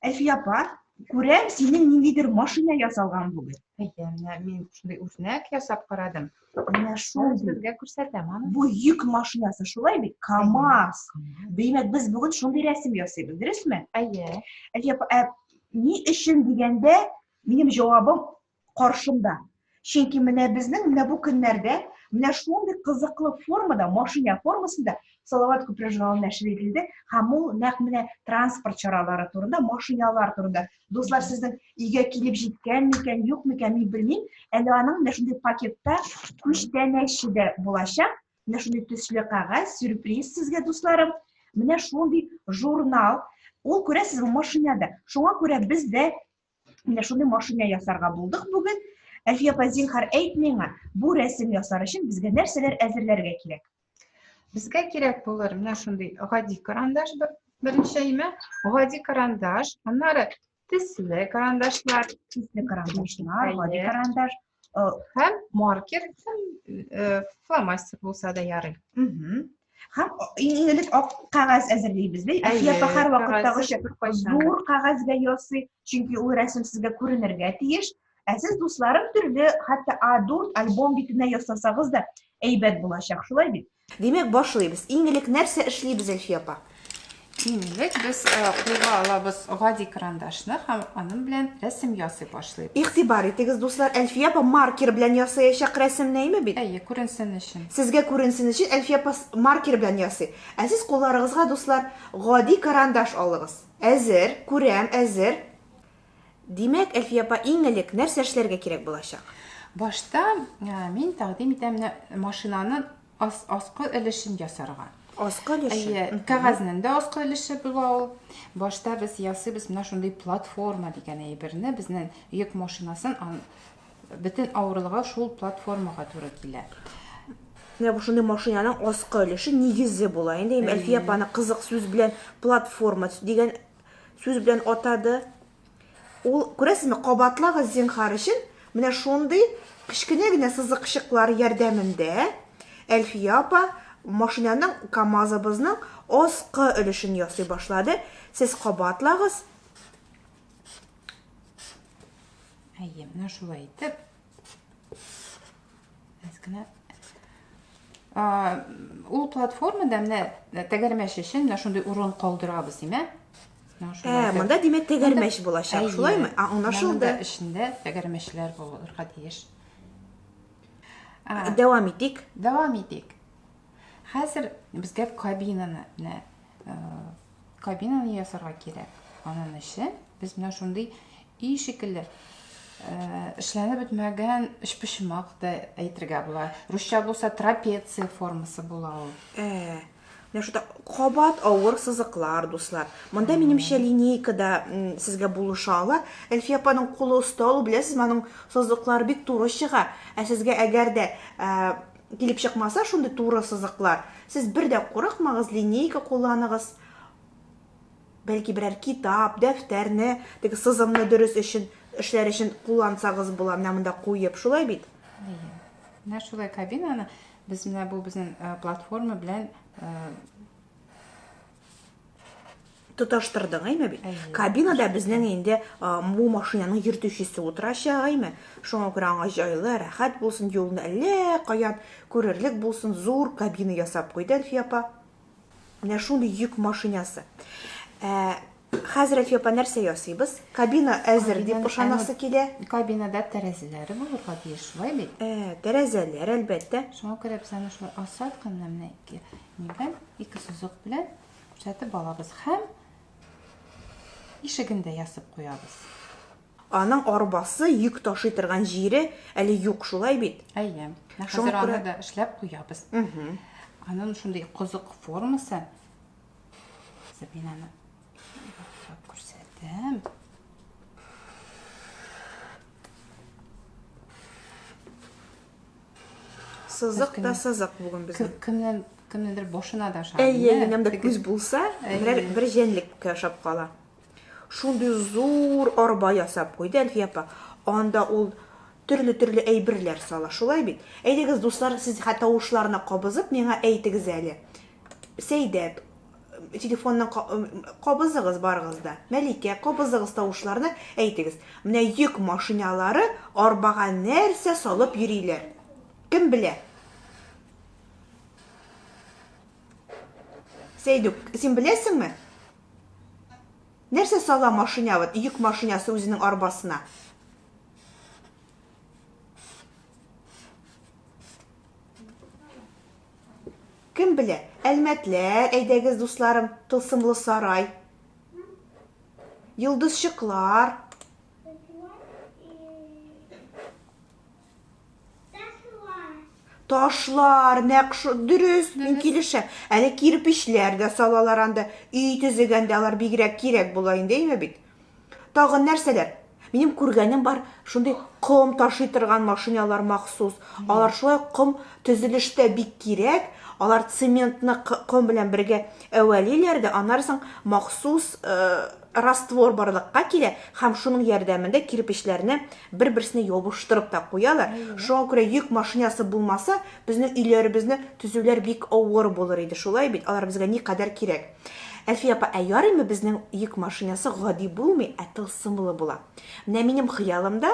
Әлфия апа, күрәм, синең ниндидер машина ясалган бүген. Әйе, менә мин шундый үрнәк ясап карадым. Менә шул сезгә күрсәтәм аны. Бу йөк машинасы шулай бит, КАМАЗ. Димәк, без бүген шундый рәсем ясыйбыз, дөресме? Әйе. Әлфия апа, ә ни өчен дигәндә, минем җавабым каршында. Чөнки менә безнең менә бу көннәрдә менә шундый кызыклы формада, машина формасында Салават күпер журналы нәшер ителде һәм ул нәкъ менә транспорт чаралары турында, машиналар турында. Дуслар, сезнең өйгә килеп җиткән микән, юк микән, мин белмим. Әле аның менә шундый пакетта күчтәнәче дә булачак. Менә шундый төсле кәгазь, сюрприз сезгә, дусларым. Менә шундый журнал. Ул күрәсезме машинада. Шуңа күрә без дә Менә шуны машина ясарга булдык бүген. Әлфия апа, зинһар, әйт миңа, бу рәсем ясар өчен безгә нәрсәләр әзерләргә кирәк? Безгә кирәк булыр менә шундый гади карандаш беренче имә, гади карандаш, аннары тисле карандашлар, тисле карандашлар, гади карандаш, Һәм маркер, һәм фломастер булса да ярый. Һәм иң элек ак кәгазь әзерлибез, ди. Әйе, һәр вакыттагыча зур кәгазьгә ясый, чөнки ул рәсем сезгә күренергә тиеш. Ә сез дусларым төрле, хәтта А4 альбом битенә ясасагыз да әйбәт булачак, шулай бит. Димәк, башлыйбыз. Иң элек нәрсә эшлибез, Әлфия апа? Иң элек без кулга алабыз гади карандашны һәм аның белән рәсем ясый башлыйбыз. Игътибар итегез, дуслар, Әлфия апа маркер белән ясаячак рәсемне, әйме бит? Әйе, күренсен өчен. Сезгә күренсен өчен Әлфия апа маркер белән ясый. Ә сез кулларыгызга, дуслар, гади карандаш алыгыз. Әзер, күрәм, әзер. Димәк, Әлфия апа, иң элек нәрсә эшләргә кирәк булачак? Башта мин тәкъдим итәм менә машинаны ас, аскы өлешен ясарга. Аскы өлеше. Әйе, кәгазьнең дә аскы өлеше була ул. Башта без ясыйбыз менә шундый платформа дигән әйберне, безнең йөк машинасын бөтен авырлыгы шул платформага туры килә. Менә бу шундый машинаның аскы өлеше нигезе була. Инде Әлфия апаны кызык сүз белән платформа дигән Сүз белән атады. Ул, күрәсезме, кабатлагыз зинхар өчен, менә шундый кечкенә генә сызыкчыклар ярдәмендә Әлфия апа машинаның КАМАЗыбызның аскы өлешен ясый башлады. Сез кабатлагыз. Әйе, менә шулай итеп. Кенә. Ул платформада менә тәгәрмәч өчен менә шундый урын калдырабыз, димә. Ә, монда димәк тәгәрмәч булачак, шулаймы? А, аңлашылды. Эчендә тәгәрмәчләр булырга тиеш. Дәвам итик. Дәвам итик. Хәзер безгә кабинаны, менә Кабинаны ясарга кирәк. Анын өчен без менә шундый и шикелле эшләнеп бетмәгән өчпочмак да әйтергә була. Русча булса трапеция формасы була ул. Ә, менә шунда кабат авыр сызыклар, дуслар. Монда минемчә линейка да сезгә булыша ала. Әлфия апаның кулы оста ул, беләсезме, аның сызыклары бик туры чыга. Ә сезгә әгәр дә килеп чыкмаса шундый туры сызыклар, сез бер дә курыкмагыз, линейка кулланыгыз, бәлки берәр китап, дәфтәрне, теге сызымны дөрес өчен, эшләр өчен куллансагыз була, менә монда куеп, шулай бит? Әйе. Менә шулай кабинаны без менә бу безнең э, платформа белән э, тоташтырдың әйме бит кабинада безнең инде бу машинаның йөртүчесе утырачак әйме шуңа күрә аңа җайлы рәхәт булсын юлны әллә каян күрерлек булсын зур кабина ясап куйды әлфия апа менә шундый йөк машинасы ә, хәзер әлфия апа нәрсә ясыйбыз кабина әзер дип ышанасы килә кабинада тәрәзәләре булырга тиеш шулай бит ә, тәрәзәләр әлбәттә шуңа күрә без аны шулай асфальт кына менә Нигә ике сузык белән күрсәтеп алабыз һәм ишеген дә ясып куябыз. Аның арбасы йөк ташый торган җире әле юк, шулай бит? Әйе. Хәзер аны да эшләп куябыз. Аның шундый козык формасы. Мин аны күрсәтәм. Сызык та сызык бүген безнең. Кемнән кемнедер башына да шар. Әйе, минем дә күз булса, бер бер җәнлеккә ошап кала. Шундый зур арба ясап куйды Әлфия апа. Анда ул төрле-төрле әйберләр сала. Шулай бит. Әйдәгез, дуслар, сез хәтта тавышларына кабызып миңа әйтегез әле. Сәйдәт телефонның кабызыгыз барыгыз да. Мәликә, кабызыгыз тавышларны, әйтегез. Менә йөк машиналары арбага нәрсә салып йөриләр? Кем белә? Сәйдүк, син беләсеңме? Нәрсә сала машина, вот йөк машинасы үзенең арбасына? Кем белә, әлмәтләр, әйдәгез, дусларым, тылсымлы сарай. Йолдызчыклар. Ташлар, нәкъ дөрес, мин килешәм. Әле кирпечләр дә салалар анда, өй төзегәндә алар бигрәк кирәк була инде, әйме бит? Тагын нәрсәләр? Минем күргәнем бар, шундый ком ташый торган машиналар махсус. Алар шулай ком төзелештә бик кирәк. Алар цементны ком белән бергә әвәлиләр дә, аннары соң махсус раствор барлыкка килә һәм шуның ярдәмендә кирпечләрне бер-берсенә ябыштырып та куялар. Шуңа күрә йөк машинасы булмаса, безнең өйләребезне төзүләр бик авыр булыр иде. Шулай бит, алар безгә никадәр кирәк. Әлфия апа, ә ярыймы безнең йөк машинасы гади булмый, ә тылсымлы була? Менә минем хыялымда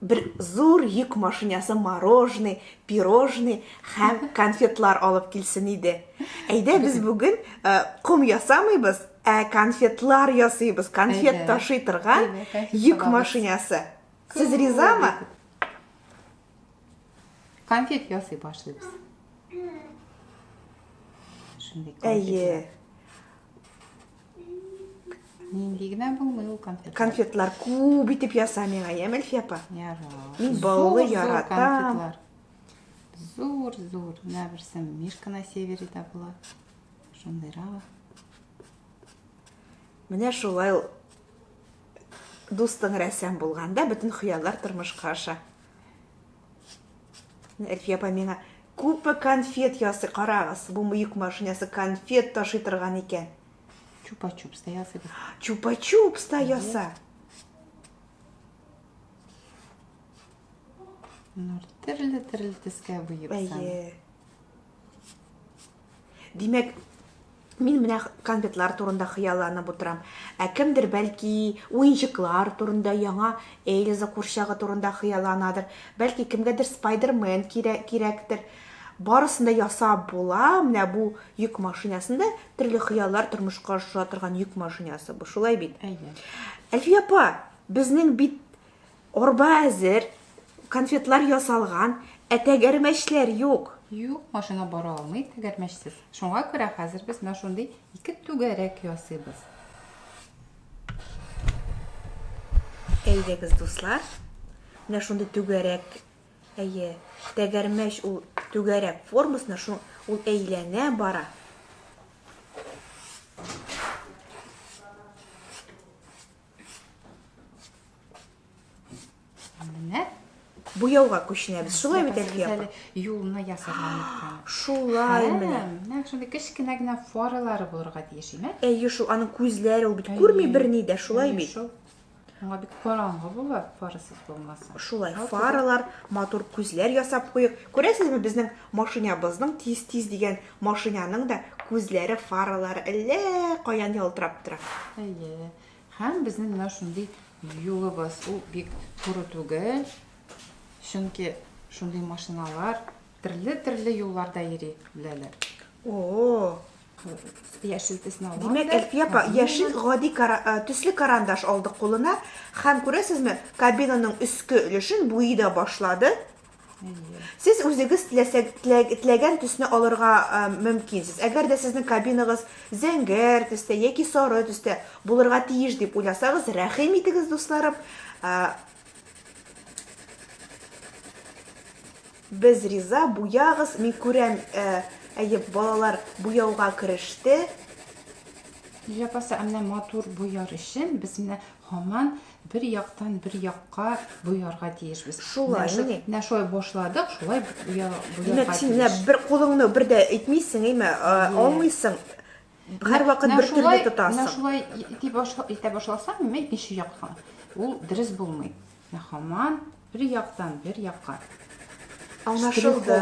бер зур йөк машинасы мороженый, пирожный һәм конфетлар алып килсен иде. Әйдә без бүген э, ком ясамыйбыз, ә конфетлар ясыйбыз. Конфет ташый торган йөк машинасы. Сез ризамы? Конфет ясый башлыйбыз. Шундый конфетлар. Нинди генә булмый ул конфетлар. Конфетлар күп итеп яса миңа, Ямельфи апа. Ярар. Мин баллы яратам. Зур, зур. Менә берсе Мишка на севере да була. Шундыйрак. Менә шулай ул дустың рәсәм булганда бөтен хыяллар тормышка аша. Әлфия апа миңа күпме конфет ясый, карагыз, бу мыек машинасы конфет ташый торган икән. Чупа-чупс та ясый. Чупа-чупс та яса. Нур, төрле-төрле төскә буеп. Әйе. Димәк, мин менә конфетлар турында хыялланып утырам. Ә кемдер бәлки уенчыклар турында, яңа Эльза курчагы турында хыялланадыр. Бәлки кемгәдер Спайдермен кирәк, кирәктер. Барысын да ясап була. Менә бу йөк машинасында төрле хыяллар тормышка аша торган йөк машинасы бу. Шулай бит? Әйе. Әлфия апа, безнең бит Арба әзер, конфетлар ясалган, ә тәгәрмәчләр юк. Юк, машина бара алмый тәгәрмәчсез. Шуңа күрә хәзер без менә шундый ике түгәрәк ясыйбыз. Әйдәгез, дуслар, менә шундый түгәрәк Әйе, тәгәрмәч ул түгәрәк формасына, шул ул әйләнә бара. Менә буяуга күченәбез. Шулай бит әле япа. Юлны ясаган икән. Шулай менә. Менә шундый кечкенә генә фаралары булырга тиеш име? Әйе, шул аның күзләре ул бит күрми берни дә, шулай бит. Аңа бик караңгы була, фарасыз булмаса. Шулай, фаралар, матур күзләр ясап куйык. Күрәсезме, безнең машинабызның тиз-тиз дигән Машинаның да күзләре, фаралары әллә каян ялтырап тора. Әйе. Һәм безнең менә шундый юлыбыз, ул бик туры түгел. Чөнки шундый машиналар төрле-төрле юлларда йөри беләләр. О-о-о! Яшел төсне алам. Димәк, Әлфия апа, яшел гади э, төсле карандаш алды кулына һәм күрәсезме, кабинаның өске өлешен буи да башлады. Сез үзегез теләгән төсне алырга мөмкинсез. Әгәр дә сезнең кабинагыз зәңгәр төстә яки сары төстә булырга тиеш дип уйласагыз, рәхим итегез, дусларым. Без риза, буягыз. Мин күрәм, әйе, балалар буяуга кереште. Җапаса, әмнә матур буяр өчен без менә хаман бер яктан бер якка буярга тиешбез. Шулай, менә. Менә шулай башладык, шулай буярга тиеш. Димәк, син менә бер кулыңны бер дә әйтмисең, әйме, алмыйсың. Һәрвакыт бер төрле тотасың. Менә шулай итә башласаң, менә икенче якка. Ул дөрес булмый. Менә хаман Бер яктан, бер якка. Аңлашылды.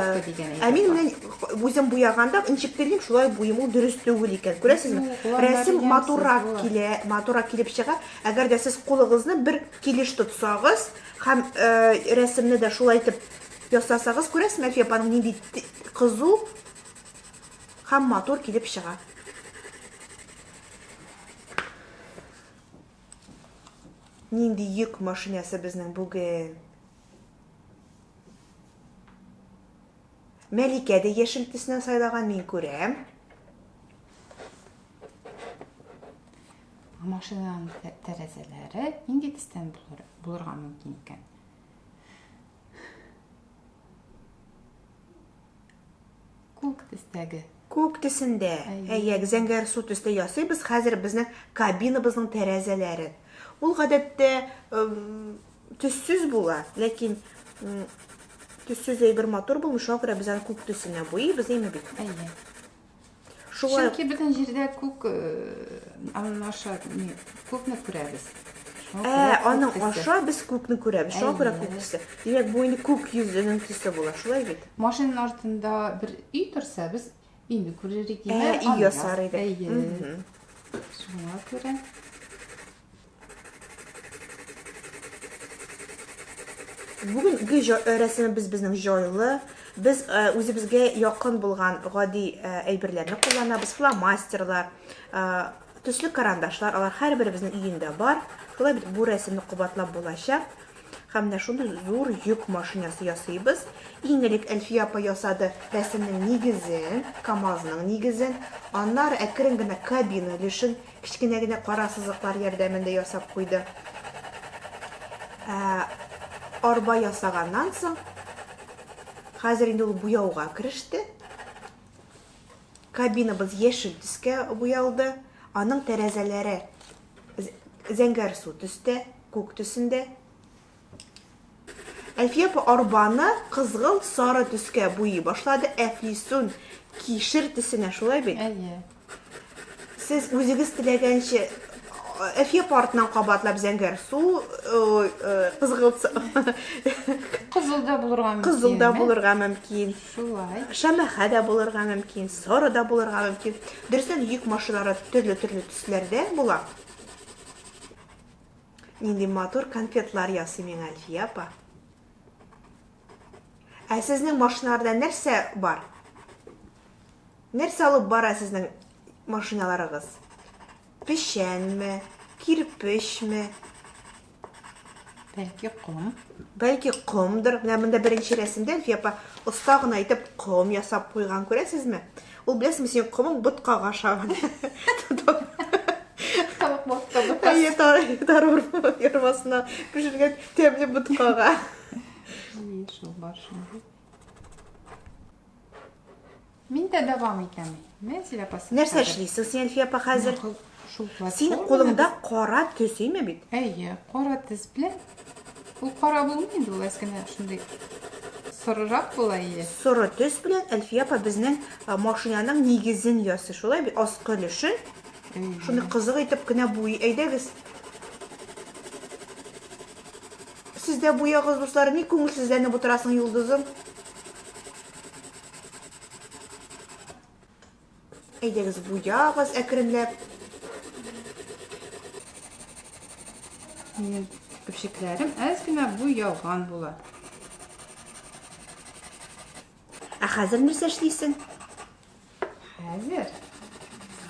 Ә мин менә үзем буяганда ничек телим, шулай буем ул дөрес түгел икән. Күрәсезме? Рәсем матуррак килә, матуррак килеп чыга. Әгәр дә сез кулыгызны бер килеш тотсагыз һәм э, рәсемне дә шулай итеп ясасагыз, күрәсезме, Әлфия апаның нинди кызу һәм матур килеп чыга. Нинди йөк машинасы безнең бүген? Мәликә дә яшел төсне сайлаган, мин күрәм. Машинаның тәрәзәләре нинди төстән булырга мөмкин икән? Күк төстәге. Күк төсендә. Әйәк, зәңгәр су төстә ясыйбыз хәзер безнең кабинабызның тәрәзәләрен. Ул гадәттә төссез була, ләкин төссез әйбер матур булмый, шуңа күрә без аны күк төсенә буйыйбыз, әйме бит? Әйе. Шулай. Чөнки бөтен җирдә күк аның аша ни күкне күрәбез. Ә, аның аша без күкне күрәбез. Шуңа күрә күк төсе. Димәк, бу инде күк йөзенең төсе була, шулай бит? Машинаның артында бер өй торса, без инде күрер идек. Ә, өй ясар идек. Шуңа күрә Бүгенге рәсемебез безнең җайлы. Без үзебезгә якын булган гади әйберләрне кулланабыз. Фломастерлар, төсле карандашлар, алар һәрберебезнең өендә бар. Шулай бит бу рәсемне кабатлап булачак. Һәм менә шундый зур йөк машинасы ясыйбыз. Иң элек Әлфия апа ясады рәсемнең нигезен, КАМАЗның нигезен. Аннары әкрен генә кабина өлешен Кечкенә генә кара сызыклар ярдәмендә ясап куйды. Ә, арба ясаганнан соң, хәзер инде ул буяуга кереште. Кабинабыз яшел төскә буялды. Аның тәрәзәләре зәңгәрсу төстә, күк төсендә. Әлфия апа арбаны кызгылт сары төскә буйый башлады. Әфлисун кишер төсенә, шулай бит? Әйе. Сез үзегез теләгәнчә Әлфия апа артыннан кабатлап зәңгәр су, кызгылт су. Кызыл да булырга мөмкин. Кызыл да булырга мөмкин. Шулай. Шәмәхә дә булырга мөмкин, сары да булырга мөмкин. Дөрестән йөк машиналары төрле-төрле төсләрдә була. Нинди матур конфетлар ясый миңа Әлфия апа. Ә сезнең машиналарда нәрсә бар? Нәрсә алып бара сезнең машиналарыгыз? Печәнме, кирпечме? Бәлки ком. Бәлки комдыр. Менә монда беренче рәсемдә Әлфия апа оста гына итеп ком ясап куйган, күрәсезме? Ул беләсең, син комың ботка гаша. Тавык ботка ботка. Әйе, тарвар ярмасына пешергән тәмле боткага. Әйе, шул бар шундый. Мин дә дәвам итәм. Нәрсә эшлисең син, Әлфия апа, хәзер? Шул платформа. Синең кулыңда кара төс име бит? Әйе, кара төс белән. Ул кара булмый инде, ул әскенә шундый сорырак була иде. Соры төс белән Әлфия апа безнең машинаның нигезен ясый. Шулай бит, аскы өлешен. Шуны кызык итеп кенә буй. Әйдәгез. Сез дә буягыз, дуслар, ни күңелсезләнеп утырасың, Юлдызым? Әйдәгез, буягыз әкренләп. Минем көпчекләрем әз генә буялган була. Ә хәзер нәрсә эшлисең? Хәзер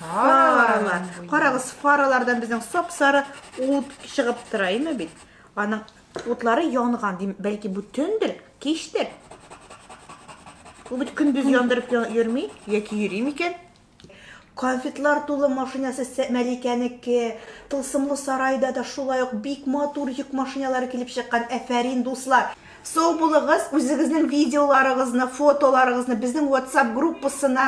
фаралар. Карагыз, фаралардан безнең сап-сары ут чыгып тора, име бит? Аның Утлары янган, дим, бәлки бу төндер, кичтер. Бу бит көндез яндырып йөрми, яки йөри микән? Конфетлар тулы машинасы Мәликәнеке, тылсымлы сарайда да шулай ук бик матур йөк машиналары килеп чыккан, әфәрин, дуслар! Сау булыгыз, үзегезнең видеоларыгызны, фотоларыгызны безнең WhatsApp группасына